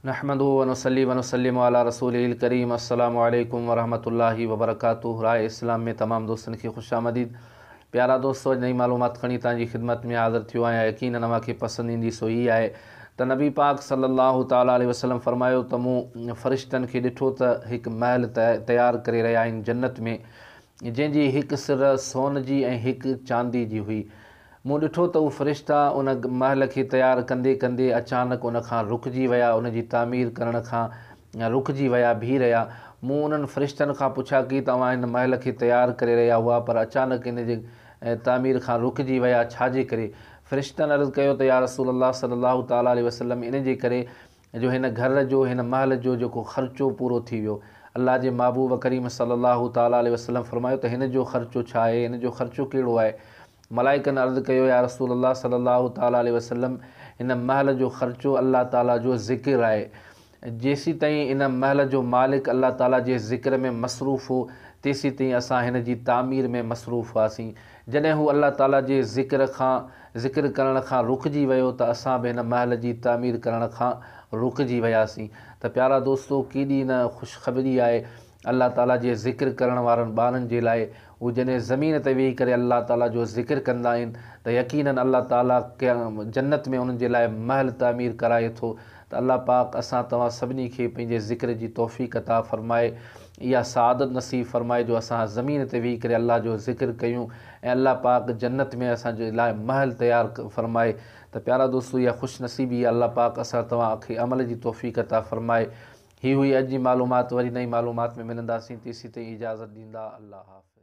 نحمده ونصلي ونسلم علي رسوله الڪريم السلام عليڪم ورحمة الله وبرڪاته راء اسلام ۾ تمام دوستن کي خوش آمديد پيارا دوستو اڄ نئين معلومات کڻي توهان جي خدمت ۾ حاضر ٿيو آهيان يقينن اوهان کي پسند ايندي سو هي آهي ته نبي پاڪ صلي الله تعالٰي عليه وسلم فرمايو ته مون فرشتن کي ڏٺو ته هڪ محل تيار ڪري رهيا آهن جنت ۾ جنهن جي هڪ سر سون جي ۽ هڪ چاندي جي هئي. مون ڏٺو ته اهي فرشتا ان محل کي تيار ڪندي ڪندي اچانڪ ان کان رڪجي ويا، ان جي تعمير ڪرڻ کان رڪجي ويا بيهي رهيا. مون انهن فرشتن کان پڇا ڪي ته اوهان هن محل کي تيار ڪري رهيا هئا پر اچانڪ ان جي تعمير کان رڪجي ويا ڇا جي ڪري؟ فرشتن عرض ڪيو ته يا رسول الله صلي الله تعالٰي عليه وسلم ان جي ڪري جو هن گهر جو هن محل جو جيڪو خرچو پورو ٿي ويو. الله جي محبوب ڪريم صلّي الله تعالٰي عليه وسلّم فرمايو ته هن جو خرچو ڇا آهي؟ هن جو خرچو ڪهڙو آهي؟ ملائڪن عرض ڪيو يا رسول الله صلّي الله تعالٰي عليه وسلّم هن محل جو خرچو الله تعالٰي جو ذڪر آهي. جيسيتائين هن محل جو مالڪ الله تعالٰي جي ذڪر ۾ مصروف هو تيسيتائين اسان هن جي تعمير ۾ مصروف هئاسين. جڏهن هو الله تعاليٰ جي ذڪر کان، ذڪر ڪرڻ کان، رڪجي ويو ته اسان به هن محل جي تعمير ڪرڻ کان رڪجي وياسين. ته پيارا دوستو! ڪيڏي نه خوشخبري آهي الله تعاليٰ جي ذڪر ڪرڻ وارن ٻارن جي لاء. هو جڏهن زمين تي ويهي ڪري الله تعاليٰ جو ذڪر ڪندا آهن ته يقيناً الله تعاليٰ جنت ۾ انهن جي لاء محل تعمير ڪرائي ٿو ته الله پاڪ اسان توهان سڀني کي پنهنجي ذڪر جي توفيق عطا فرمائي اها سعادت نصيب فرمائي جو اسان زمين تي ويهي ڪري الله جو ذڪر ڪيون ۽ الله پاڪ جنت ۾ اسان جي لاء محل تيار فرمائي ته پيارا دوستو اها خوش نصيبي آهي الله پاڪ اسان توهان کي عمل جي توفيق عطا فرمائي هي هئي اڄ جي معلومات وري نئين معلومات ۾ ملنداسين تيسين تائين اجازت ڏيندا الله حافظ.